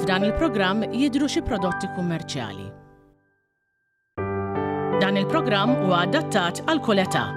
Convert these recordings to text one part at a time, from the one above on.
F'dan il-programm jidhru xi prodotti kummerċjali. Dan il-programm huwa adattat għal kull età.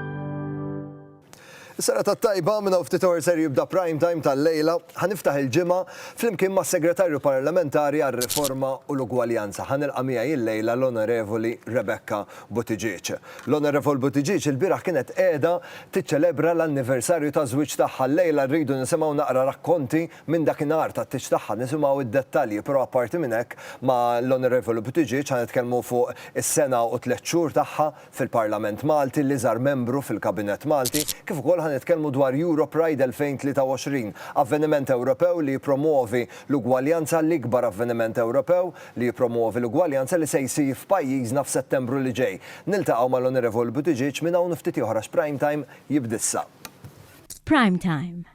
Sena ta' tajba minna ftit or ser jibda prime time tal-lejla, ħaniftaħ il-ġimgħa flimkien ma' Segretarju Parlamentari għal riforma u l-Ugwaljanza. Ħanilqa' miegħi il-lejla l-Onorevoli Rebecca Buttigieg. L-Onorevol Buttigieg il-bieraħ kienet qiegħda tiċċelebra l-anniversarju ta' żwieġ tagħha. Lejla rridu nisimgħu naqra rakkonti Minn dakinhar tat-tieġ tagħha nisimgħu d-dettalji, però apparti minn hekk ma' l-Onorevoli Buttiġieġ ħa nitkellmu fuq is-sena u tliet xhur tagħha fil-Parlament Malti, l-iżgħar membru fil-Kabinett Malti, kif ukoll ħa nitkellmu dwar Europride 2023, avveniment Ewropew li jippromwovi l-ugwaljanza, l-ikbar avveniment Ewropew li jippromwovi l-ugwaljanza li se jsir f'pajjiżna f'Settembru li ġej. Niltaqgħu ma' l-Onorevoli Buttiġieġ minn hawn u ftit ieħor għax Prime Time jibd'issa. Prime Time.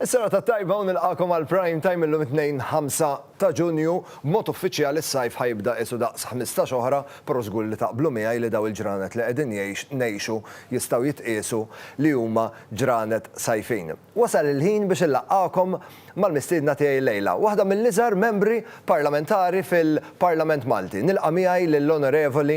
Is-serata t-tajba u nilqagħkom għal Prime Time illum it-Tnejn 5 ta' Ġunju. B'mod uffiċjali s-sajf ħa jibda qisu daqs ħmistax oħra, però żgur li taqblu miegħi li daw il-ġranet li qegħdin jgħix ngħixu jistgħu jitqiesu li huma ġranet sajfin. Wasal il-ħin biex inlaqqagħkom mal-mistiedna tiegħi llejla, waħda mill-iżgħar membri parlamentari fil-Parlament Malti. Nilqa' miegħi lill-Onorevoli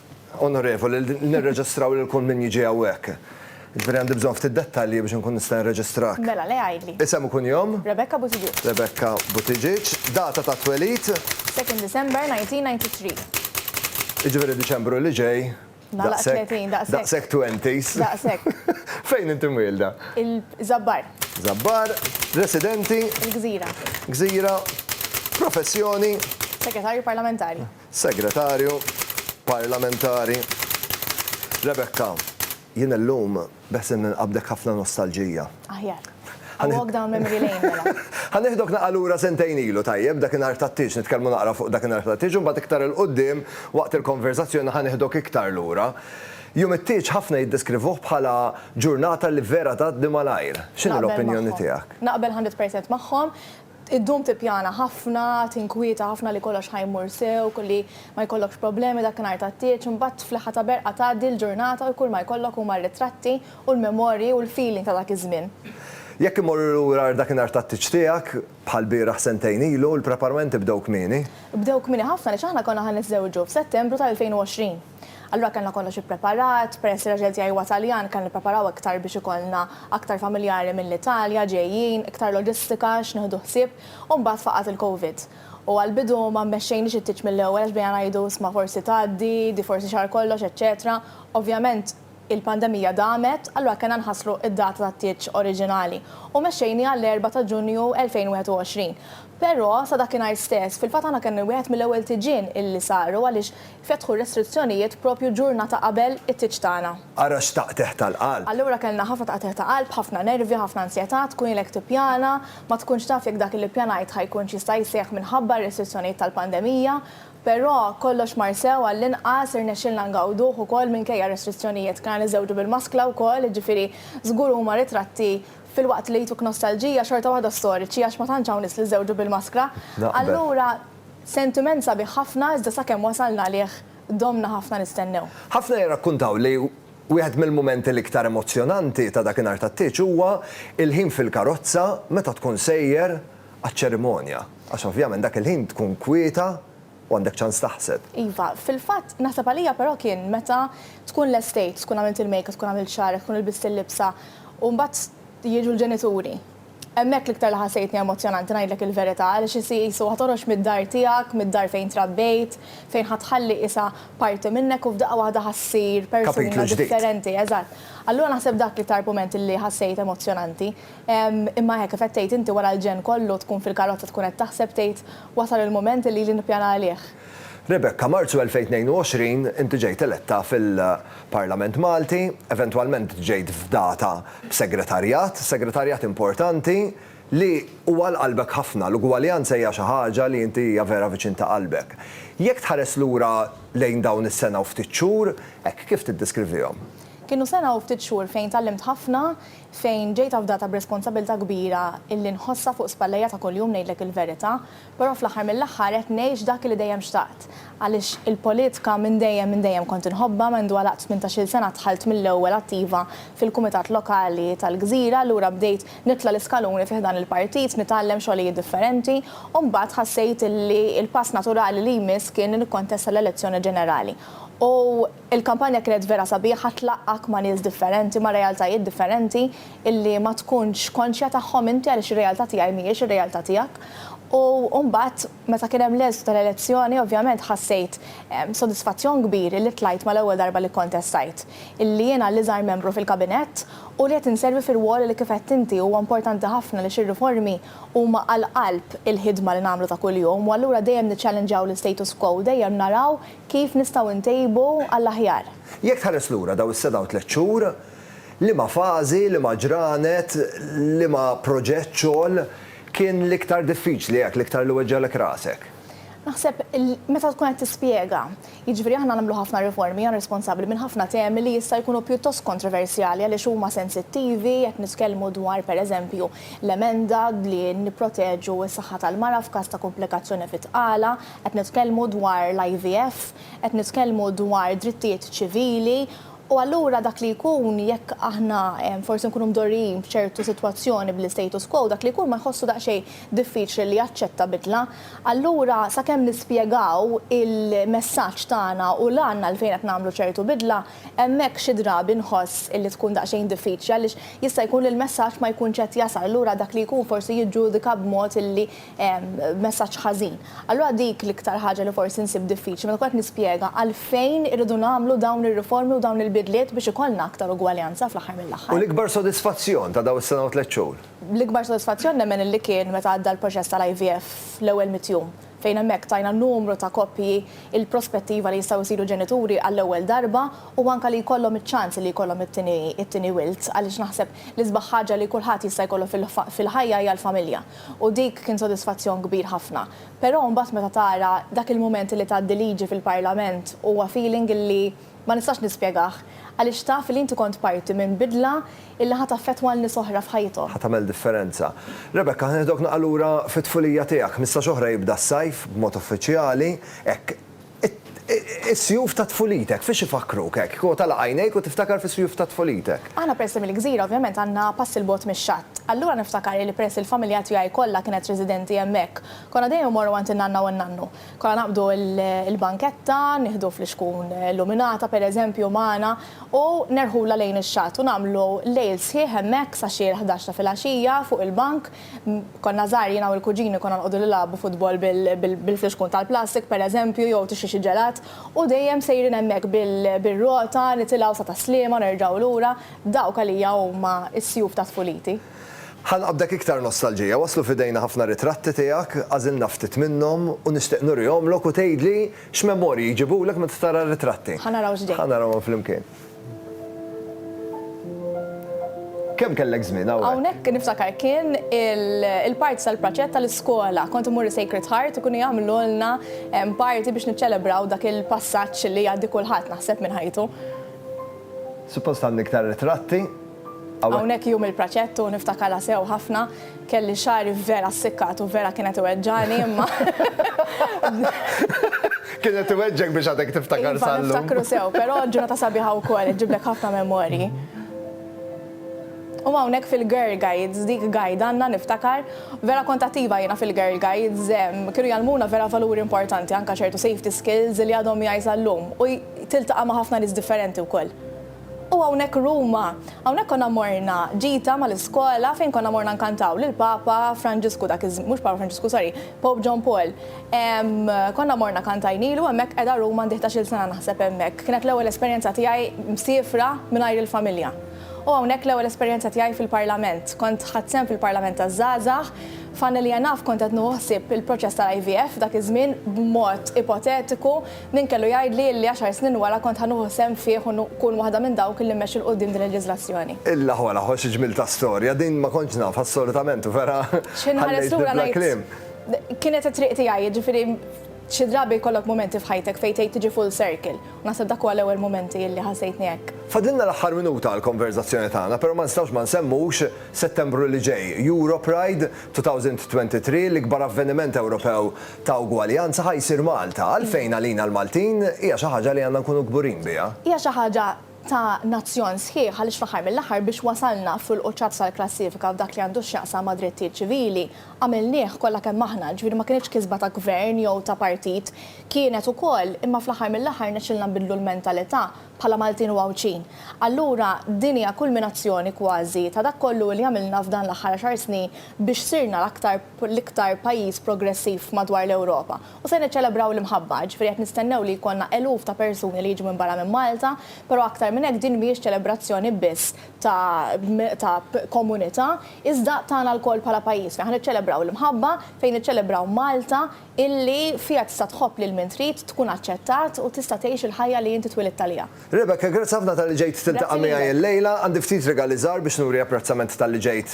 Onorevoli, nirreġistraw lil kull min jiġi hawnhekk. Jiġifieri għandi bżonn ftit dettalji biex inkun nista' nirreġistrak. Mela, le għidli. Isem u kunjom? Rebecca Buttigieg. Rebecca Buttigieg. Data ta' twelid? Second December 1993. Jiġifieri Diċembru li ġej. Nagħlaq 30, daqshekk. Daqshekk twenties. Daqshekk. Fejn inti mwielda? Il-Żabbar. Żabbar. Residenti? Il-Gżira. Gżira. Professjoni? Segretarju Parlamentari. Segretarju Parlamentari Rebecca, jien illum beħsieb ninqabdek ħafna nostalġija. Aħjar. Ħa nieħ-. A walk down memory lane mela. Ħa nieħdok naqra lura sentejn ilu, tajjeb, dakinhar tat-tieġ, nitkellmu naqra fuq dakinhar tat-tieġ u mbagħad iktar 'il quddiem waqt il-konversazzjoni ħa nieħdok iktar lura. Jum it-tieġ ħafna jiddeskrivuh bħala ġurnata li vera tgħaddi malajr. X'inhi l-opinjoni tiegħek? Naqbel magħhom. Naqbel hundred percent magħhom. Iddum tippjana ħafna, tinkwieta ħafna li kollox ħa jmur sew, li ma jkollokx problemi dakinhar tat-tieġ, imbagħad fl-aħħar ta' berqa tgħaddi l-ġurnata u kull ma jkollok huma r-ritratti u l-memorji u l-feeling ta' dak iż-żmien. Jekk immorru lura għar dakinhar tat-tieġ tiegħek, bħall-bieraħ sentejn ilu, il-preparamenti bdew kmieni? Bdew kmieni ħafna għaliex aħna konna ħa niżżewġu f'Settembru tal-2020. Allura kellna kollox ippreparat, peress li raġel tiegħi huwa Taljan kellna nippreparaw iktar biex ikollna aktar familjari mill-Italja ġejjin, iktar loġistika x'nieħdu ħsieb u mbagħad faqgħet il-Covid. U għall-bidu ma mmexxejniex it-tieġ mill-ewwel għax bdejna ngħidu isma' forsi tgħaddi, di forsi xahar kollox, eċċetera. Ovvjament il-pandemija damet, allura kellna nħasslu d-data tat-tieġ oriġinali u mexxejniha għall-Erbgħa ta' Ġunju 2021. Però sa dakinhar stess, fil-fatt aħna kien wieħed mill-ewwel tiġien illi saru għaliex Fetħu r-restrizzjonijiet proprju ġurnata qabel it-tieġ tagħna. Ara x'taqtigħ tal-qalb! Allura kellna ħafna taqtigħ ta' qalb, ħafna nervi, ħafna ansjetà, tkun ilek tippjana, ma tkunx taf jekk dak li ppjanajt ħa jkunx jista' jseħħ minħabba r-restrizzjonijiet tal-pandemija. Però kollox mar sew għall-inqas, irnexxielna ngawduh ukoll minkejja r-restrizzjonijiet. Kellna niżżewġu bil-maskla wkoll, jiġifieri żgur huma ritratti filwaqt li jtuk nostalġija xorta waħda storiċi għax ma tantx hawn nies li żżewġu bil-maskra. Allura. Sentiment sabiħ ħafna iżda sakemm wasalna għalih domna ħafna nistennew. Ħafna jirrakkuntaw li wieħed mill-mumenti l-iktar emozzjonanti ta' dakinhar tat-tieġ huwa l-ħin fil-karozza meta tkun sejjer għaċ-ċerimonja għax ovvjament dak il-ħin tkun kwieta u għandek ċans taħseb. Iva, fil-fatt naħseb għalija però kien meta tkun lestejt, tkun għamilt il-makeup, tkun għamilt xagħrek, tkun ilbist il-libsa u mbagħad jiġu l-ġenituri. Hemmhekk l-iktar li ħassejtni emozzjonanti ngħidlek il-verità għaliex isir qisu ħa toħroġ mid-dar tiegħek, mid-dar fejn trabbejt, fejn ħa tħalli qisha parti minnek u f'daqqa waħda ħa ssir persuna differenti. Eżatt. Allura naħseb dak l-iktar mument illi ħassejt emozzjonanti. Imma hekk, kif qed tgħid inti wara l-ġenn kollu tkun fil-karozza tkun qed taħseb tgħid wasal il-mument illi ili nippjana għalih. Rebecca, Marzu 2022 inti ġejt eletta fil-Parlament Malti, eventwalment ġejt fdata b'segretarjat, segretarjat importanti li hu għal qalbek ħafna, l-ugwaljanza hija xi ħaġa li inti hija vera viċin ta' qalbek. Jekk tħares lura lejn dawn is-sena u ftit xhur, hekk kif tiddiskrivihom? Kienu sena u ftit xhur fejn tgħallimt ħafna, fejn ġejt afdata b'responsabilità kbira illi nħossha fuq spallejja ta' kuljum ngħidlek il-verità. Però fl-aħħar mill-aħħar qed ngħix dak li dejjem xtaqt. Għaliex il-politka minn dejjem minn dejjem kont inħobbha, mendu għalaqt tmintax-il sena dħalt mill-ewwel attiva fil-Kumitat Lokali tal-Gżira, allura bdejt nitla' l-iskaluni fi ħdan il-partit, nitgħallem xogħlijiet differenti u mbagħad ħassejt li l-pass naturali li jmiss kien li nikkontesta l-elezzjoni ġenerali u Il-kampanja kienet vera sabiħa tlaqqgħek ma' nies differenti, ma' realtajiet differenti illi ma tkunx konxja tagħhom inti għaliex ir-realtà tiegħi mhijiex ir-realtà tiegħek. U mbagħad meta kien hemm l-eżitu tal-elezzjoni ovvjament ħassejt sodisfazzjon kbir illi tlajt mal-ewwel darba li kkontestajt illi jiena l-iżgħar membru fil-kabinett u li qed inservi fir-rwol li kif għedt inti huwa importanti ħafna għaliex ir-riformi huma għal qalb il-ħidma li nagħmlu ta' kuljum u allura dejjem niċċallinġaw l-istatus quo u dejjem naraw Kif nistgħu ntejbu għall-aħjar? Jekk tħares lura dawn is-sena u tliet xhur, liema fażi, liema ġranet, liema proġett xogħol kien l-iktar diffiċli hekk, l-iktar li weġġgħalek rasek? Naħseb meta tkun qed tispjega. Jiġifieri aħna nagħmlu ħafna riformi, jiena responsabbli minn ħafna temi li jista' jkunu pjuttost kontroversjali għaliex huma sensittivi, qed nitkellmu dwar pereżempju l-emenda li nipproteġu s-saħħa tal-mara f'każ ta' kumplikazzjoni fit-tqala, Qed nitkellmu dwar l-IVF, qed nitkellmu dwar drittijiet ċivili, u allura dak li jkun jekk aħna forsi nkunu mdorrijin b'ċertu sitwazzjoni bl-istatus quo, dak li jkun ma jħossu daqsxejn diffiċli li jaċċetta bidla. Allura sakemm nispjegaw il-messaġġ tagħna u l-għan għalfejn qed nagħmlu ċertu bidla, hemmhekk xi drabi nħoss illi tkun daqsxejn diffiċli għaliex jista' jkun li l-messaġġ ma jkunx qed jasal, allura dak li jkun forsi jiġġudika b'mod illi messaġġ ħażin. Allura dik l-iktar ħaġa li forsi nsib diffiċli meta nkun qed nispjega għalfejn irridu nagħmlu dawn ir-riformi u dawn il-bidliet biex ikollna aktar ugwaljanza fl-aħħar mill-aħħar. U l-ikbar sodisfazzjon ta' dawn is-sena u tliet xhur? L-ikbar sodisfazzjon nemmen illi kien meta għadda l-proċess tal-IVF fl-ewwel mitt jum, fejn hemmhekk tajna numru ta' koppji l-prospettiva li jistgħu jsiru ġenituri għall-ewwel darba u anke li jkollhom iċ-ċans li jkollhom it-tieni wild għaliex naħseb l-isbaħ ħaġa li kulħadd jista' jkollu fil-ħajja hija l-familja. U dik kien sodisfazzjon kbir ħafna. Però mbagħad meta tara dak il-mument li tgħaddi liġi fil-Parlament huwa feeling li ma nistax nispjegah għaliex taf li inti kont parti minn bidla li ħa taffettwa lil nies oħra f'ħajthom. Ħa tagħmel differenza. Rebecca, ħa nieħdok naqal lura fit-tfulija tiegħek. Ħmistax oħra jibda s-sajf b'mod uffiċjali, hekk. Is-sjuf ta' tfulitek, fiex ifakkruk hekk? Kieku tagħlaq għajnejk u tiftakar fis-sjuf ta' tfulitek. Aħna peress li mill-gżira ovvjament għandna pass 'il bogħod mix-xatt. Allura niftakar li peress li l-familja tiegħi kollha kienet residenti hemmhekk, konna dejjem immorru għand in-nanna u n-nannu. Konna naqbdu l-banketta, nieħdu flixkun illuminata pereżempju magħna u nerħulha lejn ix-xatt u nagħmlu lejl sħiħ hemmhekk sa xi l-ħdax ta' filgħaxija fuq il-bank Konna żgħar jiena u l-kuġini konna nqogħdu nilagħbu futbol bil-flixkun tal-plastik pereżempju jew tixtri xi ġelat u dejjem sejrin hemmhekk bir-rota nitilgħu sa Tas-Sliema u nerġgħu lura. Dawk għalija huma s-sjuf ta' tfuliti. Ħa nqabdek iktar nostalġija. Waslu f'idejna ħafna ritratti tiegħek, għażilna ftit minnhom u nixtieq nurihomlok u tgħidli x'memorji jġibulek meta tara r-ritratti. Ħa naraw x'ġej. Ħa narawhom flimkien. Kemm kellek żmien hawnhekk? Hawnhekk niftakar kien il-parti tal-praċett tal-iskola. Kont imur Sacred Heart ikunu jagħmlulna parti biex niċċelebraw dak il-passaġġ li jgħaddi kulħadd naħseb minn ħajtu. Suppost għandi iktar ritratti. Hawnhekk jum il-praċett u niftakarha sew ħafna. Kelli xagħri vera ssikkat u vera kienet iweġġagħni imma. Kienet iweġġgħek biex għadek tiftakar sa llum. Iva, niftakru sew, però ġurnata sabiħa wkoll, iġġiblek ħafna memorji. U hawnhekk fil-Girl Guides, dik guide għandna niftakar, vera kont attiva jiena fil-Girl Guides, kienu jgħallmuna vera valuri importanti, anke ċertu safety skills li għadhom miegħi sa llum u tiltaqa' ma' ħafna nies differenti wkoll. U hawnhekk Ruma. Hawnhekk konna morna ġita mal-iskola fejn konna morna nkantaw lil Papa Franġisku dak iż-żmien, mhux Papa Franġisku, sorry, Pope John Paul. Konna morna kantajnilu hemmhekk qiegħda Ruma għandi ħdax-il sena naħseb hemmhekk. Kienet l-ewwel esperjenza tiegħi msiefra mingħajr il-familja. U hawnhekk l-ewwel esperjenza tiegħi fil-Parlament. Kont ħadt sehem fil-Parlament taż-Żgħażagħ. F'Għana Li Għa Naf kont qed nieħu ħsieb il-proċess tal-IVF dak iż-żmien b'mod ipotetiku. Min kellu jgħidli illi għaxar snin wara kont ħa nuħu sehem fih u nkun waħda minn dawk illi mmexxi 'l quddiem din il-leġislazzjoni. Illa ħola ħo xi ġmiel ta' storja, din ma kontx nafha assolutament u vera ħallejtni bla kliem. Kienet it-triq tiegħi, jiġifieri xi drabi jkollok mumenti f'ħajtek fejn tgħid tiġi full circle, u naħseb dak huwa l-ewwel mumenti illi ħassejtni hekk. Fadlilna l-aħħar minuta għall-konverżazzjoni tagħna, però ma nistgħux ma nsemmux Settembru li ġej, Europride 2023, l-ikbar avveniment Ewropew ta' ugwaljanza ħa jsir Malta, għalfejn għalina l-Maltin hija xi ħaġa li għandna nkunu kburin biha. Hija xi ħaġa ta' nazzjon sħiħ għaliex fl-aħħar mill-aħħar biex wasalna fil-quċċat tal-klassifika f'dak li għandu x'jaqsam ma' drittijiet ċivili għamilnieh kollha kemm aħna, ġifieri ma kinitx kisba ta' gvern jew ta' partit, kienet ukoll imma fl-aħħar mill-aħħar rnexxielna nbiddlu l-mentalità bħala Maltin u Għawdxin. Allura din hija kulminazzjoni kważi ta' dak kollu li għamilna f'dan l-aħħar għaxar snin biex sirna l-aktar l-iktar pajjiż progressiv madwar l-Ewropa u se niċċelebraw l-imħabba, jiġifieri qed nistennew li jkollna eluf ta' persuni li jiġu minn barra minn Malta, però aktar minn hekk din mhijiex ċelebrazzjoni biss ta' ta' komunità iżda tagħna lkoll bħala pajjiż fejn ħa niċċelebraw l-imħabba, fejn niċċelebraw Malta illi fiha tista' tħobb lil min trid, tkun aċċettat u tista' tgħix il-ħajja li inti twilidt għaliha. Rebecca, grazzi ħafna talli ġejt tiltaqa' miegħi illejla. Għandi ftit rigali żgħar biex nuri apprezzament talli ġejt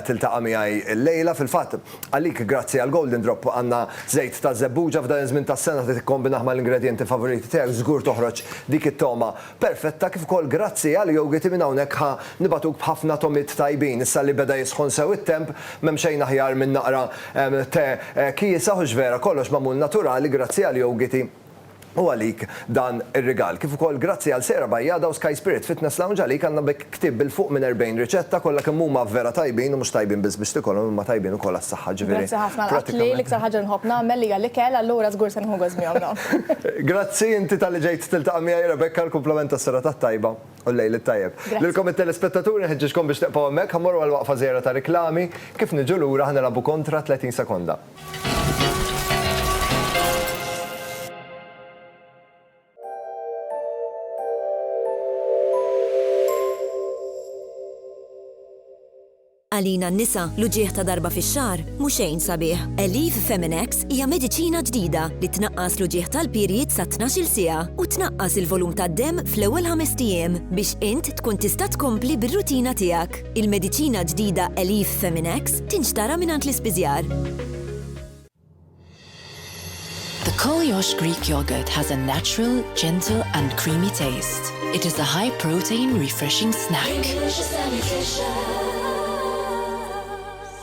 tiltaqa' miegħi illejla. Fil-fatt, għalik grazzi għall-Golden Drop għandna żejt ta' żebbuġa f'dan iż-żmien tas-sena li tikkombinah mal-ingredjenti favoriti tiegħek żgur toħroġ dik it-togħma perfetta kif ukoll grazzi għal yogiti minn hawnhekk ħa nibagħtuk b'ħafna togħmiet tajbin. Issa li beda jisħon sew it-temp, m'hemm xejn aħjar minn naqra te kiesaħ u x'vera kollox magħmul naturali grazzi għal yogiti. U għalik dan ir-rigal. Kif ukoll grazzi għal Sera Bajjada u Sky Spirit Fitness Lounge għalik għandna b'hekk ktieb bil-fuq minn 40 riċetta kollha kemm huma vera tajbin u mhux tajbin biss biex tikolhom imma tajbin ukoll għas-saħħa ġifieri pratikament. Grazzi ħafna għal akli, l-iktar ħaġa li nħobb nagħmel hija l-ikel allura żgur se nieħu gost bihom dawn. Grazzi inti talli ġejt tiltaqa' miegħi Rebecca, l-kumplament tas-serata t-tajba u l-lejl it-tajjeb. Lilkom it-telespettaturi nħeġġiġkom biex tibqgħu hemmhekk ħa mmorru għal waqfa żgħira ta' riklami, kif niġu lura ħa nilgħabu kontra 30 sekonda. Għalina n-nisa, l-uġieħ ta' darba fix-xahar mhux xejn sabiħ. Elif Feminex hija mediċina ġdida li tnaqqas l-uġieħ tal-pirjiet sa 12-il siegħa u tnaqqas il-volum tad-demm fl-ewwel ħamest ijiem biex int tkun tista' tkompli bir-rutina tiegħek. Il-mediċina ġdida Elif Feminex tinxtara mingħand l-ispiżjar. The Koliosh Greek Yogurt has a natural, gentle and creamy taste. It is a high protein refreshing snack.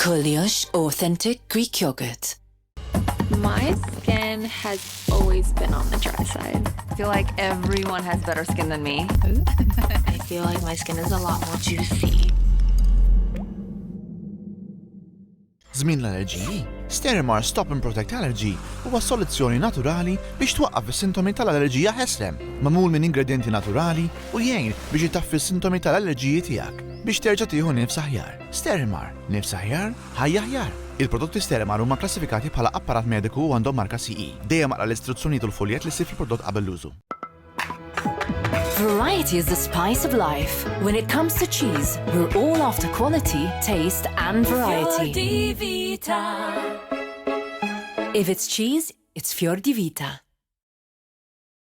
Koliosh Authentic Greek Yogurt. My skin has always been on the dry side. I feel like everyone has better skin than me. I feel like my skin is a lot more juicy. Zmin l-allerġiji, Sterimar Stop and Protect Allergy huwa soluzzjoni naturali biex twaqqaf is-sintomi tal-allerġija ħeslem, mamul minn ingredienti naturali u jgħin biex itaffi s-sintomi tal-allerġiji tiegħek biex terġa' tieħu nifs aħjar. Sterimar, nifs aħjar, Ħajja aħjar! Il-prodotti Sterimer huma kklassifikati bħala apparat mediku u għandhom marka CE. Dejjem aqra l-istruzzjonijiet u l-fuljett li ssib fil-prodott qabel l-użu. Variety is the spice of life. When it comes to cheese, we're all after quality, taste and variety. Fior di Vita. If it's cheese, it's Fior di Vita.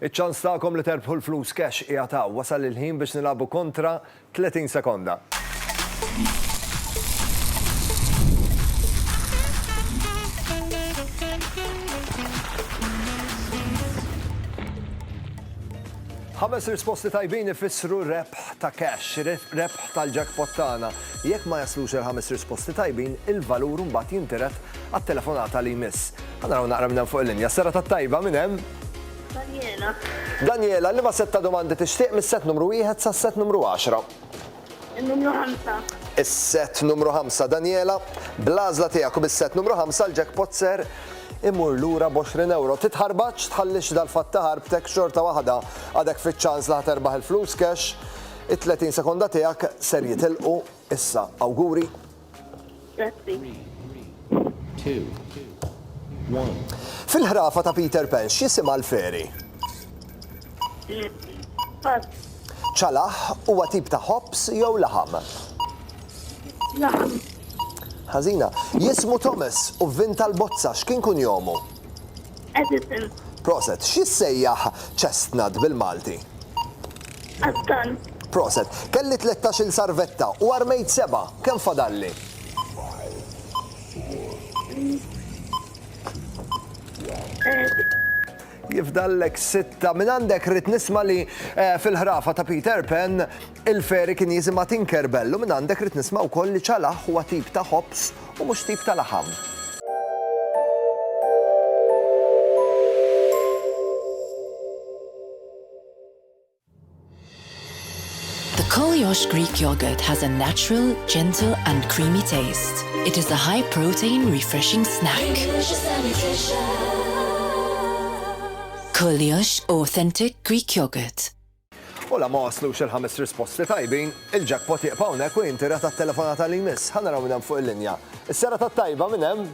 Iċ-ċans tagħkom li terbħu l-flus cash qiegħed hawn. Wasal il-ħin biex nilagħbu kontra 30 sekonda. Ħames risposti tajbin ifissru rebħ ta' cash, rebħ tal-jackpot tagħna. Jekk ma jaslux il-ħames risposti tajbin, il-valur mbagħad jintiret għat-telefonata li jmiss. Ħanaraw naqra minn hemm fuq il-linja. Sera tat-tajba minn hemm. Daniela. Daniela, liema sett ta' domandi tixtieq mis-sett numru wieħed sas-sett numru għaxra? In-numru ħamsa. Is-sett numru ħamsa, Daniela. Bl-għażla tiegħek u bis-sett numru ħamsa l-jackpot ser imur lura b'għoxrin ewro. Titħarbaġx, tħallix dal-fatt ta' ħarbtek xorta waħda għadek fiċ-ċans li ħa terbaħ il-flus cash. It-30 sekonda tiegħek ser jitilqu issa. Awguri! Grazzi. Fil-ħrafa ta' Peter Pan x'jisimha l-feri? ċalaħ huwa tip ta' ħobs jew laħam? Laħam. Ħażina. Jismu Thomas u vvin tal-bozza x'kien kun jomu? Edison. Proset, x'jissejjaħ chestnut bil-Malti? Għas-tant. Proset. Kelli tlettax-il sarvetta u armejt sebgħa. Kemm fadalli? Jifdallek sitta. Minn għandek rrid nisma' li eh, fil-ħrafa ta' Peter Pan il-feri kien jisimha Tinkerbell u minn għandek rrid nisma' wkoll li ċalaħ huwa tip ta' ħobs u mhux tip ta' laħam. The Koliosh Greek yogurt has a natural, gentle and creamy taste. It is a high protein refreshing snack. Koliosh authentic Greek yogurt. U la ma waslux il-ħames risposti tajbin, il-jackpot jiqpa' hawnhekk u jinti rat tat-telefonata li jmiss. Ħa naraw minn hemm fuq il-linja. Is-sera tat-tajba minn hemm.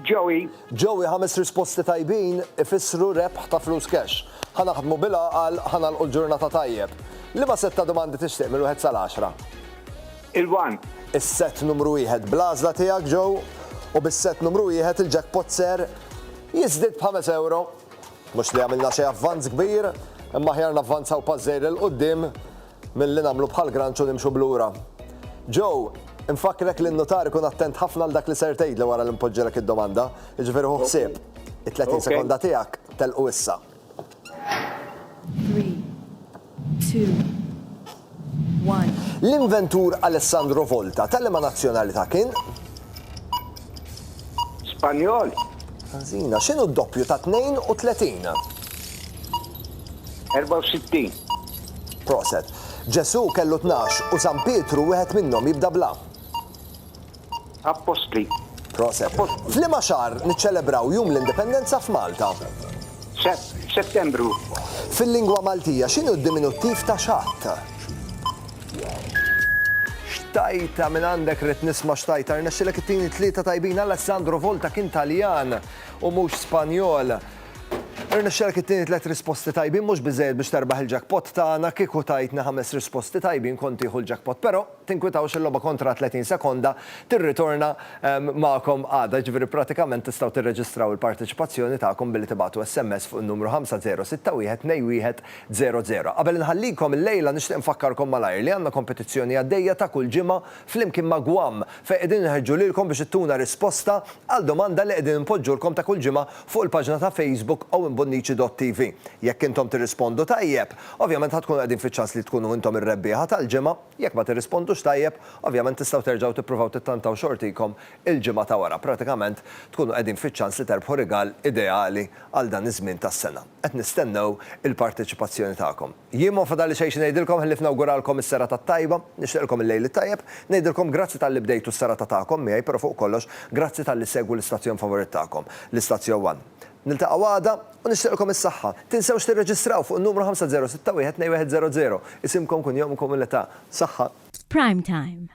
Joey. Joey, Ħames risposti tajbin ifissru rebħ ta' flus cash. Ħa naħdmu bil-għaqal, ħa nagħlqu l-ġurnata tajjeb. Liema sett ta' domandi tixtieq minn wieħed sal-għaxra? Il-one. Is-sett numru wieħed bl-għażla tiegħek, Joe, u bis-sett numru wieħed il-jackpot ser jiżdied b'ħames ewro. Mhux li għamilna xi avvanz kbir, imma aħjar navvanzaw pass żgħir 'il quddiem Milli nagħmlu bħal granċ u nimxu 'l lura. Joe, Infakkrek li n-nutar ikun attent ħafna għal dak li ser tgħidli wara li npoġġilek id-domanda, jiġifieri ħu ħsieb. It-30 sekonda tiegħek telqu issa. L-inventur Alessandro Volta ta' liema nazzjonalità kien? Spanjol. Ħażina. X'inhu d-doppju ta' 32? 64. Proset. Ġesu kellu tnax u San Pietru wieħed minnhom jibda bla. Appostli. Proset. F'liema xahar niċċelebraw Jum l-Indipendenza f'Malta? Settembru. Fil-lingwa Maltija x'inhu d-diminuttiv ta' xatt? Wow. Xtajta minn għandek rrit nisma xtajta rnexxilek it-tieni tlieta tajbin Alessandro Volta kien Taljan u mhux Spanjol. Irnexxelek it-tieni tliet risposti tajbin mhux biżejjed biex terbaħ il-jackpot tagħna kieku tajtni ħames risposti tajbin kont tieħu l-jackpot. Però tinkwitawx il-logħba kontra 30 sekonda tirritorna ehm, magħkom għada, ġifieri pratikament tistgħu tirreġistraw il-parteċipazzjoni tagħkom billi tibgħatu SMS fuq in-numru 5061 21 Zero Zero. Qabel inħallikom illejla nixtieq infakkarkom malajr li għandna kompetizzjoni għaddejja ta' kull ġimgħa flimkien ma' Guam fejn qegħdin inħeġġu lilkom biex ittuna risposta għal domanda li qegħdin inpoġġulkom ta' kull ġimgħa fuq il-paġna ta' Facebook owenbonnici.tv. Jekk intom tirrispondu tajjeb, ovvjament ħa tkunu qegħdin fiċ-ċans li tkunu intom ir-rebbieħa tal-ġimgħa, jekk ma tirrispondux tajjeb, ovvjament tistgħu terġgħu tippruvaw tittantaw xortikom il-ġimgħa ta' wara. Pratikament tkunu qegħdin fiċ-ċans li terbħu rigal ideali għal dan iż-żmien tas-sena. Qed nistennew il-parteċipazzjoni tagħkom. Jien ma fadalli xejn xi ngħidilkom ħlief nawguralkom is-serata t-tajba, nixtieqilkom il-lejl it-tajjeb, ngħidilkom grazzi talli bdejtu s-serata tagħkom miegħi però fuq kollox grazzi talli ssegwu l-istazzjon favorit tagħkom, l-Istazzjon One. Niltaqgħu għada u nixtieqilkom is-saħħa. Tinsewx tirreġistraw fuq in-numru 50612100, isimkom, kunjomkom u l-età. Saħħa. Prime Time.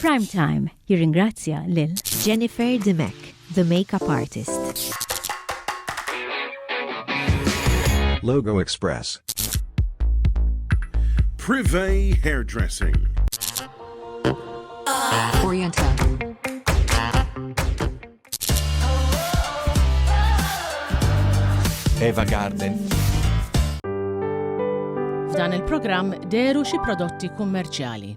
Prime Time jirringrazzja lil Jennifer Dimech, the makeup artist. Logo Express. Privé Hairdressing. Oriental. Eva Garden. F'dan il-programm deru xi prodotti kummerċjali.